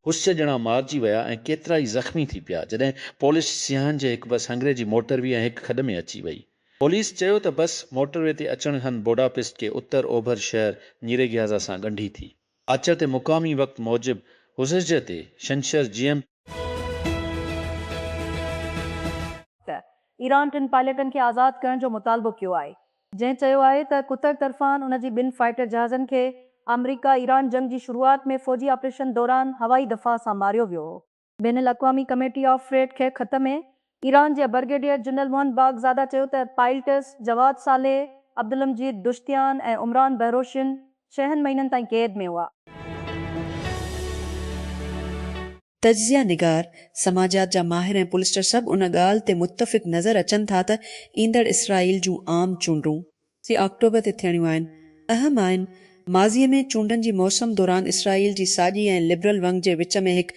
هوسيه ڄڻا مارجي ويا ۽ ڪيترا ئي زخمي ٿي پيا، جڏهن پوليس سياحن جي هڪ بس هنگري جي موٽر وي ۽ هڪ کڏ ۾ اچي وئي. پوليس چيو ته بس موٽر وي تي اچڻ هنڌ بوڊاپسٽ کي اتر اوڀر شهر نيريگهيازا سان ڳنڍي ٿي. اچر تي مقامي وقت موجب حزحزه تي ڇنڇر جي ايم. ته ايران ٽن پائليٽن کي آزاد ڪرڻ جو مطالبو ڪيو آهي جنهن چيو آهي ته قطر طرفان ان جي ٻن فائيٽر جهازن کي آمريڪا ايران جنگ جي شروعات ۾ فوجي آپريشن دوران هوائي دفاع سان ماريو ويو هو. بين الاقوامي ڪميٽي آف فريڊ کي خط ۾ ايران جي برگيڊيئر جنرل محمد باغزاده چيو ته pilots Javad Saleh, Abdolmajid Dashtian ۽ Imran Behroshin ڇهن مهينن تائين قيد ۾ هئا. تجزيه نگار، سماجيات جا ماهر ۽ پولسٽر سڀ ان ڳالهه تي متفق نظر اچن ٿا ته ايندڙ اسرائيل جون عام چونڊون، سي آڪٽوبر تي ٿيڻيون آهن، اهم آهن. ماضي ۾ چونڊن جي موسم دوران اسرائيل جي ساڄي ۽ لبرل ونگ جي وچ ۾ هڪ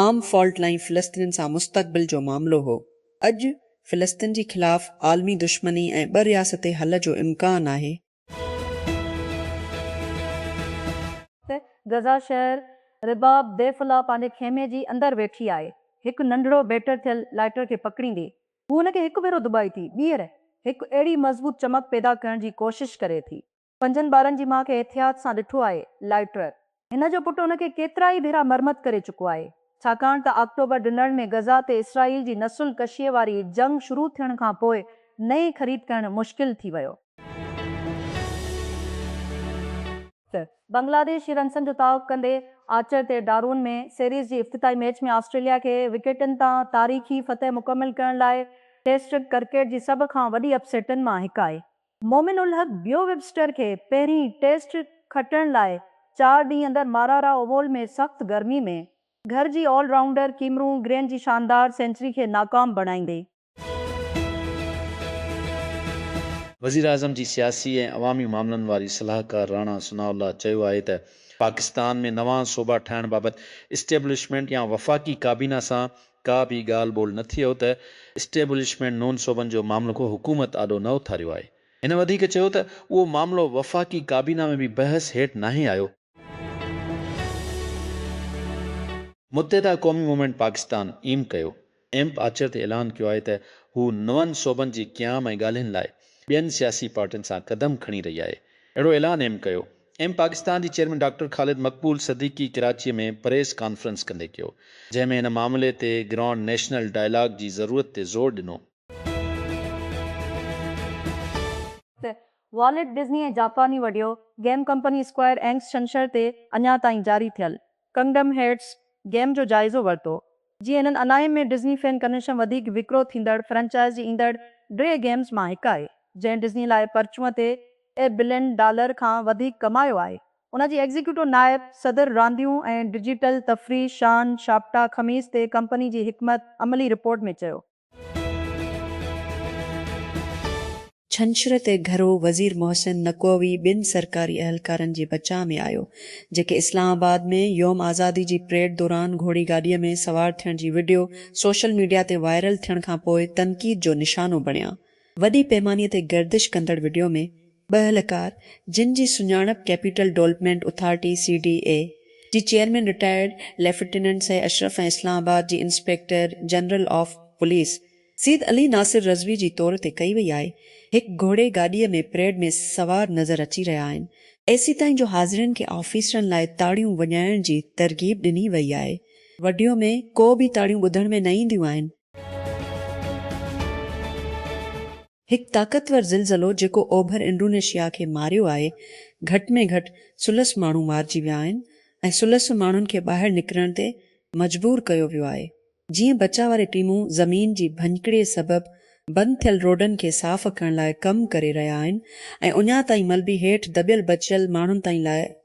عام فالٽ لائين فلسطينين سان مستقبل جو معاملو هو. اڄ فلسطين جي خلاف عالمي دشمني ۽ ٻه رياستي حل جو امڪان آهي. ته غزه شهر رباب ديفلا پنهنجي خيمي جي اندر ويٺي آهي، هڪ ننڍڙو بيٽر ٿيل لائٽر کي پڪڙيندي هو هن کي هڪ ڀيرو دٻائي ٿي، ٻيهر هڪ اهڙي مضبوط چمڪ پيدا ڪرڻ جي ڪوشش ڪري ٿي. پنجن ٻارن جي ماء کي احتياط سان ڏٺو آهي، لائٽرر. هن جو پٽ ان کي ڪيترائي ڀيرا مرمت ڪري چڪو آهي، ڇاڪاڻ ته آڪٽوبر ڊنر ۾ غزه تي اسرائيل جي نسل ڪشيء واري جنگ شروع ٿيڻ کان پوء نئين خريد ڪرڻ مشڪل ٿي ويو. ته بنگلاديش هي رنسن جو تعاق ڪندي آرچر تي ڊارون ۾ سيريز جي افتتاحي ميچ ۾ آسٽريليا کي وڪيٽن تان تاريخي فتح مڪمل ڪرڻ لاء ٽيسٽ ڪرڪيٽ جي سڀ کان وڏي اپ سيٽن مان هڪ آهي. مومن الحق بيو ويبسٽر کي پهرين ٽيسٽ کٽڻ لاء چار ڏينهن اندر مارارا اوول ۾ سخت گرمي ۾ گهر جي آل رائونڊر ڪيمرون گرين جي شاندار سينچري کي ناڪام بڻائيندي، وزيراعظم جي سياسي ۽ عوامي معاملن واري صلاحڪار راڻا ثناء الله چيو آهي ته پاڪستان ۾ نوان صوبا ٺاهڻ بابت اسٽيبلشمينٽ يا وفاقي ڪابينا سان ڪا به ڳالهه ٻولهه نه ٿيو ته اسٽيبلشمينٽ نون صوبن جو معاملڪو حڪومت آڏو نه اٿاريو آهي. هن وڌيڪ چيو ته اهو معاملو وفاقي ڪابينا ۾ به بحث هيٺ ناهي آيو. متحده قومي movement Pakistan M Q M آچر تي اعلان ڪيو آهي ته هو نون صوبن جي قيام ۽ ڳالهين لاء ٻين سياسي پارٽين سان قدم کڻي رهي آهي، اهڙو اعلان ايم ڪيو. ايم پاڪستان جي چيئرمين ڊاڪٽر خالد مقبول صديقي ڪراچيء ۾ پريس ڪانفرنس ڪندي ڪيو، جنهن ۾ هن معاملي تي گرانڊ نيشنل ڊائلاگ جي ضرورت تي زور ڏنو. ته والٽ ڊزني ۽ جاپاني video game company Square Enix ڇنڇر تي اڃا تائين جاري ٿيل ڪنگڊم هيئرٽس گيم جو جائزو ورتو، جيئن هنن اناهيم ۾ ڊزني فين ڪنهنشم وڌيڪ وڪرو ٿيندڙ فرنچائز جي ايندڙ ڊري گيمز مان هڪ آهي، جنهن ڊزني لاء پرچون تي اي بلين ڊالر کان وڌيڪ ڪمايو آهي. ان جي ايگزيڪيوٽو نائب صدر رانديون ۽ ڊجيٽل تفريح شان شاپٽا خميس تي ڪمپني جي حڪمت عملي رپورٽ ۾ چيو، ڇنڇر تي گهرو وزير محسن نقوي ٻن سرڪاري اهلڪارن جي بچاء ۾ آيو، جيڪي اسلام آباد ۾ يوم آزادي جي پريڊ دوران گهوڙي گاڏيء ۾ سوار ٿيڻ جي وڊيو سوشل ميڊيا تي وائرل ٿيڻ کانپوء تنقيد جو نشانو بڻيا. وڏي پيماني تي گردش ڪندڙ وڊيو ۾ ٻه اهلڪار جن جي سڃاڻپ capital development authority, C D A, جي chairman retired lieutenant Syed Ashraf ۽ Islamabad جي inspector general of police Syed Ali Nasir Rizvi جي طور تي ڪئي وئي آهي، هڪ گهوڙي گاڏيء ۾ پريڊ ۾ سوار نظر اچي رهيا آهن. ايسيتائين جو حاضرين کي آفيسرن لاء تاڙيون وڄائڻ جي ترغيب ڏني وئي آهي. وڊيو ۾ ڪو به تاڙيون ٻڌڻ ۾ نه اينديون آهن. هڪ طاقتور زلزلو جيڪو اوڀر انڊونيشيا کي ماريو آهي، گهٽ ۾ گهٽ ثلث ماڻهو مارجي ويا آهن ۽ ثلث ماڻهن کي ٻاهر نڪرڻ تي مجبور ڪيو ويو آهي، جيئن بچاء واري ٽيمون زمين جي ڀڃڪڙي سبب بند ٿيل روڊن کي صاف ڪرڻ لاء ڪم ڪري رهيا آهن ۽ اڃا تائين ملبي هيٺ دٻيل بچيل ماڻهن تائين لاء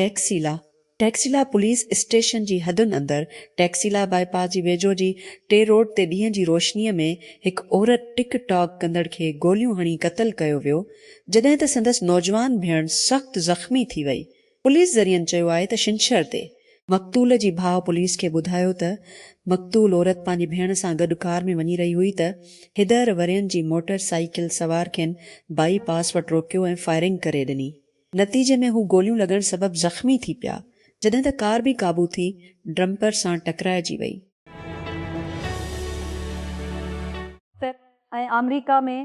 ٽيڪسيلا، ٽيڪسيلا پوليس اسٽيشن جي حدن اندر ٽيڪسيلا باء پاس جي ويجهو جي ٽي روڊ تي ڏينهن جي روشني ۾ هڪ عورت ٽڪ ٽاڪ ڪندڙ کي گوليون هڻي قتل ڪيو ويو جڏهن ته سندس نوجوان ڀيڻ سخت زخمي ٿي وئي پوليس ذريعن چيو آهي ته ڇنڇر تي مقتول جي ڀاء پوليس کي ٻڌايو ته مقتول عورت پنهنجي ڀيڻ سان گڏ ڪار ۾ وڃي رهي هئي ته هدهر ورهين جي موٽر سائيڪل سوار کين باء پاس وٽ روڪيو ۽ فائرنگ ڪري ڏني نتيجي ۾ هو گوليون لڳڻ سبب زخمي ٿي پيا، جڏهن ته ڪار بي قابو ٿي ڊمپر سان ٽڪرائجي وئي. پ ۽ آمريڪا ۾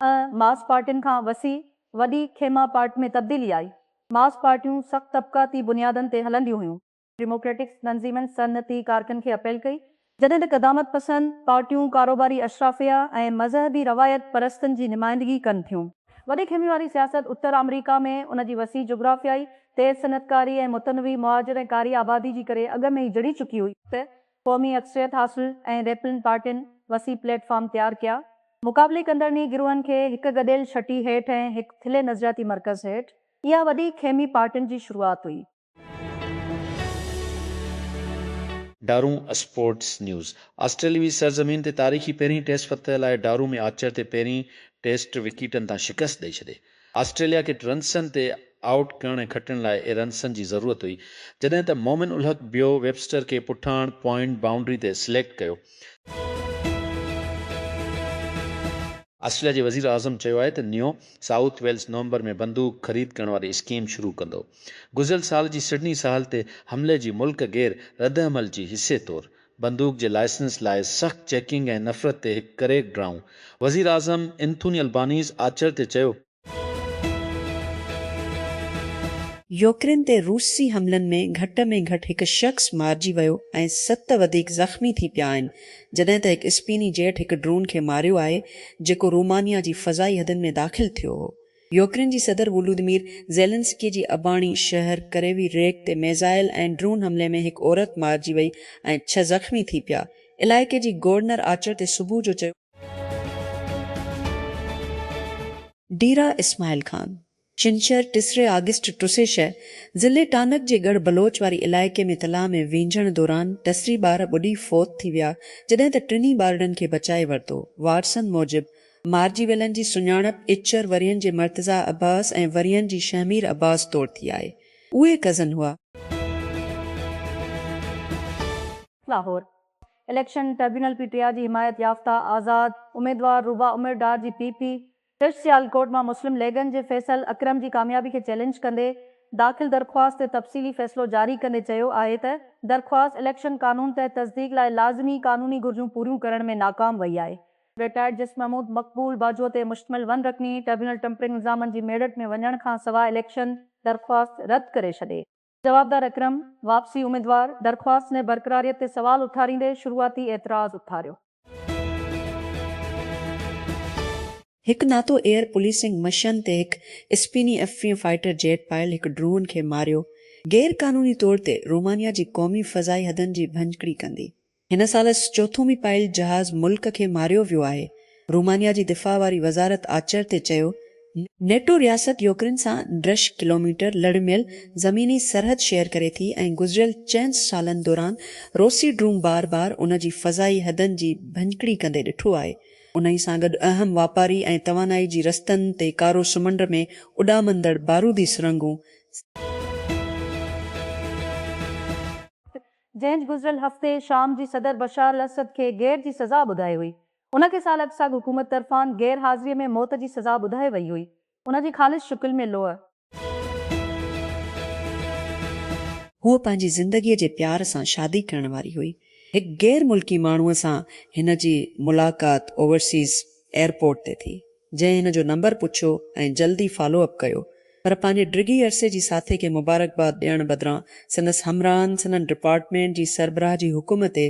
۽ ماس پارٽين کان وسيع وڏي خيمه پارٽ ۾ تبديلي آئي. ماس پارٽيون سخت طبقاتي بنيادن تي هلنديون هيون. ڊيموڪريٽڪ تنظيمن صنعتي ڪارڪن کي اپيل ڪئي، جڏهن ته قدامت پسند پارٽيون ڪاروباري اشرافيه ۽ مذهبي روايت پرستن جي نمائندگي ڪن ٿيون. وڏي خيمي واري سياست اتر آمريڪا ۾ ان جي وسيع جغرافيائي، تيز صنعتڪاري ۽ متنوع مهاجر ۽ ڪاري آبادي جي ڪري اڳ ۾ ئي جڙي چڪي هئي. ته قومي اڪثريت حاصل ۽ ريپلن پارٽين وسيع پليٽ فارم تيار ڪيا. مقابلي ڪندڙني گروهن کي هڪ گڏيل ڇٽي هيٺ ۽ هڪ ٿلهي نظرياتي مرڪز هيٺ اها وڏي خيمي پارٽين جي شروعات هئي. ڊارون، اسپورٽس نيوز، آسٽريلوي سرزمين تي تاريخي پهرين ٽيسٽ فتح لاء ڊارون ۾ آرچر تي پهرين ٽيسٽ وڪيٽن تان شڪست ڏئي ڇڏي. آسٽريليا کي رنسن تي آئوٽ ڪرڻ ۽ کٽڻ لاء اي رنسن جي ضرورت هئي جڏهن ته مومن الحق بيو ويبسٽر کي پٺاڻ پوائنٽ بائونڊري تي سليڪٽ ڪيو. آسٽريليا جي وزيراعظم چيو آهي ته نيو سائوٿ ويلز نومبر ۾ بندوق خريد ڪرڻ واري اسڪيم شروع ڪندو. گذريل سال جي سڊني ساحل تي حملي جي ملڪ گير ردعمل جي حصي طور بندوق جي لائسنس لاء سخت چيڪنگ ۽ نفرت تي هڪ ڪريڪ ڊائون وزيراعظم اينٿوني البانيز آچر تي چيو يوڪرين تي روسي حملن ۾ گهٽ ۾ گهٽ هڪ شخص مارجي ويو ۽ ست وڌيڪ زخمي ٿي پيا آهن، جڏهن ته هڪ اسپيني جيٽ هڪ ڊرون کي ماريو آهي، جيڪو رومانيا جي فضائي حدن ۾ داخل ٿيو هو. يوڪرين جي صدر وولودمير زيلنسڪي جي اباڻي شهر ڪريوي ريگ تي ميزائل ۽ ڊرون حملي ۾ هڪ عورت مارجي وئي ۽ ڇهه زخمي ٿي پيا. علائقي جي گورنر آچر تي صبح جو چيو. ڊيرا اسماعيل خان، چنشهر، ٽيسري آگسٽ ٽه سي ڇهه، ضلعي ٽانڪ جي ڳڙهه بلوچ واري علائقي ۾ تلاء ۾ وينجهڻ دوران ٽيسري ٻار ٻڏي فوت ٿي ويا جڏهن ته ٽنهي ٻارڙن کي بچائي ورتو، وارثن موجب مارجي ويلن جي سڃاڻپ اچر ورهين جي مرتضيٰ عباس ۽ ورهين جي شهمير عباس طور ٿي آهي، اهي ڪزن هئا. Lahore, election tribunal P T I جي حمايت يافته آزاد اميدوار روبا عمر ڊار جي پي پي پش سيالڪوٽ مان مسلم ليگن جي فيصل اڪرم جي ڪاميابي کي چئلينج ڪندي داخل درخواست تي تفصيلي فيصلو جاري ڪندي چيو آهي ته درخواست اليڪشن قانون تحت تصديق لاء لازمي قانوني گهرجون پوريون ڪرڻ ۾ ناڪام وئي آهي. رٽائرڊ جسٽس محمود مقبول باجوه تي مشتمل ون رڪني ٽربيونل ٽمپرنگ الزامن جي ميڙٽ ۾ وڃڻ کانسواء اليڪشن درخواست رد ڪري ڇڏي. جوابدار اڪرم واپسي اميدوار درخواست ۾ برقراريت تي سوال اٿاريندي شروعاتي اعتراض اٿاريو. هڪ ناتو ايئر پوليسنگ مشن تي هڪ اسپيني ايف ٽيهه فائيٽر جيٽ پايل هڪ ڊرون کي ماريو، غير قانوني طور تي رومانيا جي قومي فضائي حدن جي ڀڃڪڙي ڪندي. هن سال چوٿون ميپائيل جهاز ملڪ کي ماريو ويو آهي، رومانيا جي دفاع واري وزارت آچر تي چيو، نيٽو رياست يوڪرين سان ڊرش ڪلوميٽر لڙميل زميني سرحد شيئر ڪري ٿي ۽ گذريل چئن سالن دوران روسي ڊرون بار بار ان جي فضائي حدن جي ڀڃڪڙي ڪندي ڏٺو آهي، انهي سان گڏ اهم واپاري ۽ توانائي جي رستن تي ڪارو سمنڊ ۾ اڏامندڙ بارودي سرنگهون، جنهن گذريل هفتي شام جي صدر بشار الاسد کي غير جي سزا ٻڌائي هئي. ان کي سال اڳ ساڳ حڪومت طرفان غير حاضريء ۾ موت جي سزا ٻڌائي وئي هئي. ان جي خالص شڪل ۾ لوء. هوء پنهنجي زندگيء جي پيار سان شادي ڪرڻ واري هئي. هڪ غير ملڪي ماڻهوء سان هن جي ملاقات اوورسيز ايئرپورٽ تي ٿي. جنهن هن جو نمبر پڇيو ۽ جلدي فالو اپ ڪيو پر پنهنجي ڊگهي عرصي جي ساٿي کي مبارڪباد ڏيڻ بدران سندس همراهن سندن ڊپارٽمينٽ جي سربراهه جي حڪم تي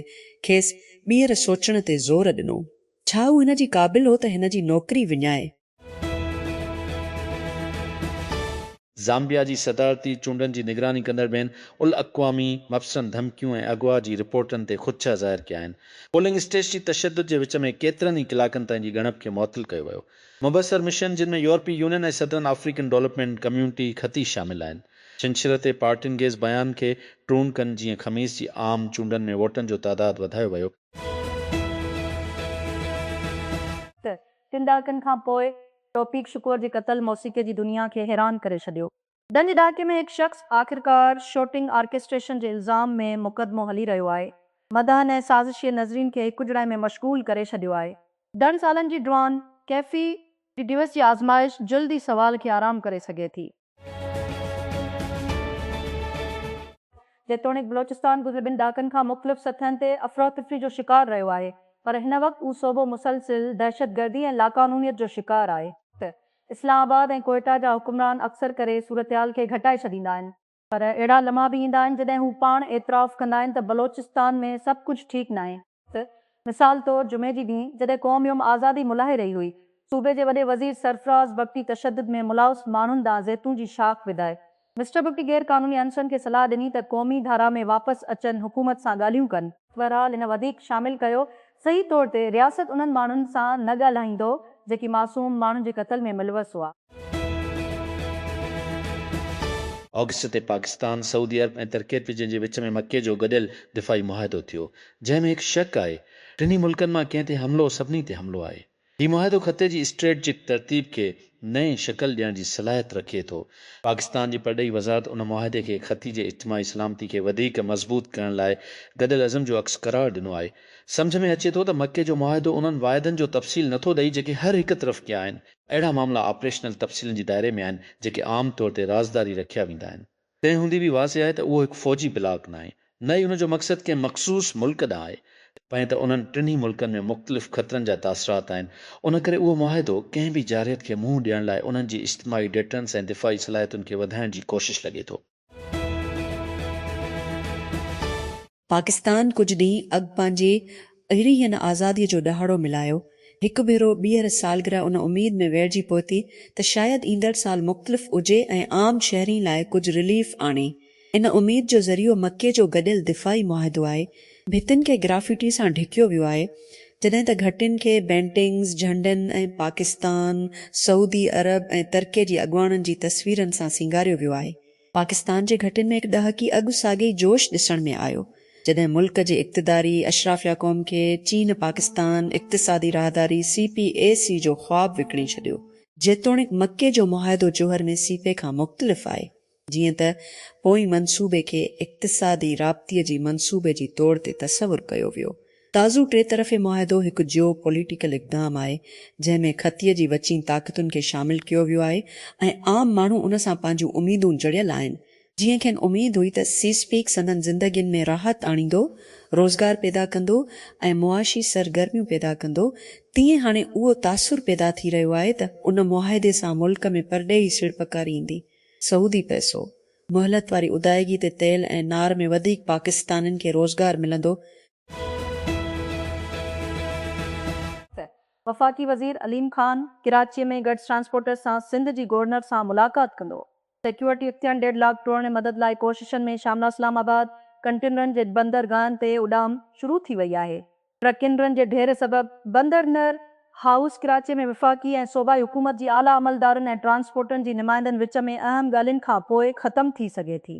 کيس ٻيهر سوچڻ تي زور ڏنو ڇا هو هن جي قابل هو ته هن جي نوڪري وڃائي. زامبيا جي صدارتي چونڊن جي نگراني ڪندڙ بين الاقوامي مبصرن ڌمڪيون ۽ اغوا جي رپورٽن تي خدشه ظاهر ڪيا آهن. پولنگ اسٽيش جي تشدد جي وچ ۾ ڪيترن ئي ڪلاڪن تائين جي ڳڻپ کي معطل ڪيو ويو. مبصر مشن جن ۾ يورپي يونين ۽ صدرن آفريڪن ڊولپمينٽ ڪميونٽي خطي شامل آهن ڇنڇر تي پارٽين گيز بيان کي ٽرون ڪن جيئن خميس جي عام چونڊن ۾ ووٽن جو تعداد وڌايو ويو. ته ٽن ڏهاڪن کان پوء توفيق شڪور جي قتل موسيقي جي دنيا کي حيران ڪري ڇڏيو. ڏھن جي ڏھاڪي ۾ ھڪ شخص آخرڪار شوٽنگ آرڪيسٽريشن جي الزام ۾ مقدمو ھلي رھيو آھي. مداحن ۽ سازشيء نظرين کي ھڪجھڙائي ۾ مشغول ڪري ڇڏيو آھي. ڏھن سالن جي ڊوان ڪيفي ڊي ڊيوس جي آزمائش جلد ئي سوال کي آرام ڪري سگھي ٿي. جيتوڻيڪ بلوچستان گذريل ٻن ڏهاڪن کان مختلف سطحن تي افراتفري جو شڪار رهيو آهي پر هن وقت اهو صوبو مسلسل دهشتگردي ۽ لاقانونيت جو شڪار آهي. اسلام آباد ۽ ڪوئيٽا جا حڪمران اڪثر ڪري صورتحال کي گهٽائي ڇڏيندا آهن، پر اهڙا لمحا به ايندا آهن جڏهن هو پاڻ اعتراف ڪندا آهن ته بلوچستان ۾ سڀ ڪجهه ٺيڪ ناهي، وقت، مثال طور جمعي جي ڏينهن جڏهن قوم يوم آزادي ملهائي رهي هئي، صوبي جي وڏي وزير سرفراز بگٽي تشدد ۾ ملوث ماڻهن ڏانهن زيتون جي شاخ وڌائي. مسٽر بگٽي غير قانوني عنصرن کي صلاح ڏني ته قومي ڌارا ۾ واپس اچن حڪومت سان ڳالهيون ڪن. بهرحال هن وڌيڪ شامل ڪيو صحيح طور تي رياست انهن ماڻهن سان نه ڳالهائيندو جيڪي معصوم ماڻهن جي قتل ۾ ملوث هئا. آگسٽ تي پاڪستان، سعودي عرب ۽ ترڪيء جنهن جي وچ ۾ مڪي جو گڏيل دفاعي معاهدو ٿيو، جنهن ۾ هڪ شق آهي، ٽنهي ملڪن مان ڪنهن تي حملو سڀني تي حملو آهي. هي معاهدو خطي جي اسٽريٽجڪ ترتيب کي نئين شڪل ڏيڻ جي صلاحيت رکي ٿو. پاڪستان جي پرڏيهي وزارت ان معاهدي کي خطي جي اجتماعي سلامتي کي وڌيڪ مضبوط ڪرڻ لاء گڏيل عزم جو عڪس قرار ڏنو آهي. سمجهه ۾ اچي ٿو ته مڪي جو معاهدو انهن واعدن جو تفصيل نٿو ڏئي جيڪي هر هڪ طرف ڪيا آهن، اهڙا معاملا آپريشنل تفصيلن جي دائري ۾ آهن، جيڪي عام طور تي رازداري رکيا ويندا آهن. تنهن هوندي به واضح آهي ته اهو هڪ فوجي بلاڪ ناهي، نه ئي ان جو مقصد ڪنهن مخصوص ملڪ ڏانهن آهي، پنهن ته انهن ٽنهي ملڪن ۾ مختلف خطرن جا تاثرات آهن، ان ڪري اهو معاهدو ڪنهن به جارحيت کي منهن ڏيڻ لاء انهن جي اجتماعي ڊيٽرنس ۽ دفاعي صلاحيتن کي وڌائڻ جي ڪوشش لڳي ٿو. پاڪستان ڪجهه ڏينهن اڳ پنهنجي اهڙينهن آزاديء جو ڏهاڙو ملهايو. هڪ ڀيرو ٻيهر سالگرهه ان اميد ۾ ويڙهجي پهتي ته شايد ايندڙ سال مختلف اجهي ۽ عام شهرين لاء ڪجهه رليف آڻي. ان اميد جو ذريعو مڪي جو گڏيل دفاعي معاهدو آهي، ڀتين کي گرافيٽي سان ڍڪيو ويو آهي، جڏهن ته گهٽين کي بينٽنگز، جهنڊن ۽ پاڪستان، سعودي عرب ۽ ترڪي جي اڳواڻن جي تصويرن سان سينگاريو ويو آهي. پاڪستان جي گهٽين ۾ هڪ ڏهاڪي اڳ ساڳئي جوش ڏسڻ ۾ آيو، جڏهن ملڪ جي اقتداري اشرافيا قوم کي چين پاڪستان اقتصادي راهداري، سي پي اي سي، جو خواب وڪڻي ڇڏيو. جيتوڻيڪ مڪي جو معاهدو جوهر ۾ سي پي کان مختلف آهي، جيئن ته پوئين منصوبي کي اقتصادي رابطي جي منصوبي جي طور تي تصور ڪيو ويو. تازو ٽي طرفي معاهدو هڪ جيو پوليٽيڪل اقدام آهي، جنهن ۾ خطي جي وچين طاقتن کي شامل ڪيو ويو آهي ۽ عام ماڻهو ان سان پنهنجون اميدون جڙيل آهن، جيئن کين اميد هئي ته سيس پيڪ سندن زندگين ۾ راحت آڻيندو، روزگار پيدا ڪندو ۽ معاشي سرگرميون پيدا ڪندو، تيئن هاڻي اهو تاثر پيدا ٿي رهيو آهي ته ان معاهدي سان ملڪ ۾ پرڏيهي سيڙپڪاري ايندي. سعودي پئسو، مهلت واري ادائيگي تي تيل ۽ نار ۾ وڌيڪ پاڪستانين کي روزگار ملندو. وفاقي وزير عليم خان ڪراچي ۾ گڊز ٽرانسپورٽرز سان سنڌ جي گورنر سان ملاقات ڪندو. سيڪيورٽي اختيان ڊيڊ لاڪ ٽوڙڻ مدد لاء ڪوششن ۾ شاملاسلام آباد ڪنٽينرن جي بندرگاهن تي اڏام شروع ٿي وئي آهي. ٽرڪينرن جي ڍير سبب بندر نر هائوس ڪراچي ۾ وفاقي ۽ صوبائي حڪومت جي اعليٰ عملدارن ۽ ٽرانسپورٽرن جي نمائندن وچ ۾ اهم ڳالهين کان پوء ختم ٿي سگهي ٿي.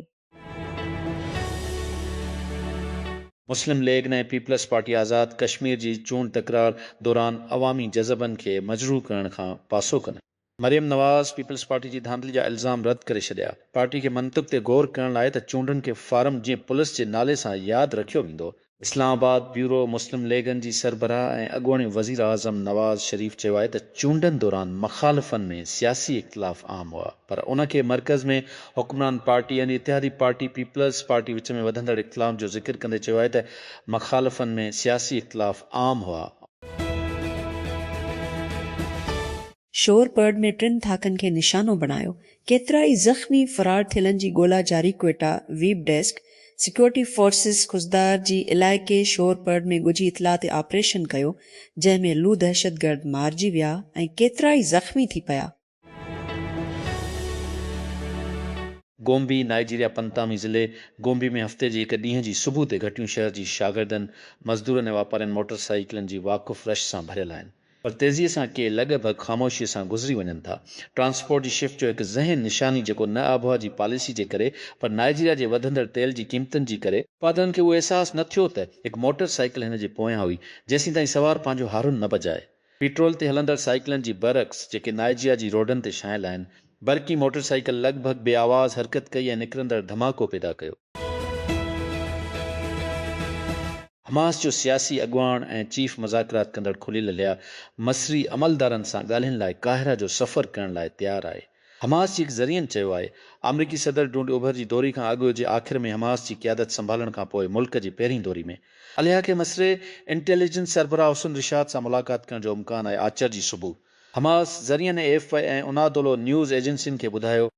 مسلم ليگ ن ۽ پيپلز پارٽي آزاد ڪشمير جي چونڊ تڪرار دوران عوامي جذبن کي مجروح ڪرڻ کان پاسو ڪن. مريم نواز پيپلز پارٽي جي ڌانڌلي جا الزام رد ڪري ڇڏيا، پارٽي کي منطق تي غور ڪرڻ لاء ته چونڊن کي فارم جيئن پلس جي نالي سان ياد رکيو ويندو. Islamabad, bureau, Muslim League ن جي سربراهه ۽ اڳوڻي وزيراعظم نواز شريف چيو آهي ته چونڊن دوران مخالفن ۾ سياسي اختلاف عام هئا پر ان کي مرڪز ۾ حڪمران پارٽي ۽ اتحادي پارٽي پيپلز پارٽي وچ ۾ وڌندڙ اختلاف جو ذڪر ڪندي چيو آهي ته مخالفن ۾ سياسي اختلاف عام هئا شور پرڙ ۾ ٽن ڌاڪن کي نشانو بڻايو، ڪيترا ئي زخمي، فرار ٿيلن جي ڳولا جاري Quetta, web desk, security forces Khuzdar جي علائقي شور پرڙ ۾ ڳجهي اطلاعاتي آپريشن ڪيو، جنهن ۾ لو دهشتگرد مارجي ويا ۽ ڪيترا ئي زخمي ٿي پيا. گومبي، نائيجيريا پنتامي ضلعي گومبي ۾ هفتي جي هڪ ڏينهن جي صبح تي گهٽيون شهر جي شاگردن، مزدورن ۽ واپارين موٽر سائيڪلن جي واقف رش سان ڀريل آهن، پر تيزي سان ڪي لڳ ڀڳ خاموشيء سان گذري وڃن ٿا، ٽرانسپورٽ جي شفٽ جو هڪ ذهين نشاني جيڪو نه آبهوا جي پاليسي جي ڪري پر نائيجيريا جي وڌندڙ تيل جي قيمتن جي ڪري، پادرن کي اهو احساس نه ٿيو ته هڪ موٽر سائيڪل هن جي پويان هئي، جيسين تائين سوار پنهنجو هارن نه بجائي. پيٽرول تي هلندڙ سائيڪلن جي برعڪس جيڪي نائيجيا جي روڊن تي شايل آهن، برقي موٽر سائيڪل لڳ ڀڳ بي آواز حرڪت ڪئي ۽ نڪرندڙ ڌماڪو پيدا ڪيو. حماس جو سياسي اڳواڻ ۽ چيف مذاڪرات ڪندڙ خليل الحيا مصري عملدارن سان ڳالهين لاء قاهره جو سفر ڪرڻ لاء تيار آهي. حماس جي هڪ ذريعن چيو آهي آمريڪي صدر ڊونلڊ اوڀر جي دوري کان اڳ جي آخر ۾ حماس جي قيادت سنڀالڻ کان پوء ملڪ جي پهرين دوري ۾ عليحا کي مصري انٽيليجنس سربراهه حسن رشاد سان ملاقات ڪرڻ جو امڪان آهي آچر جي صبح حماس ذريعن A F P ۽ Anadolu news ايجنسين کي ٻڌايو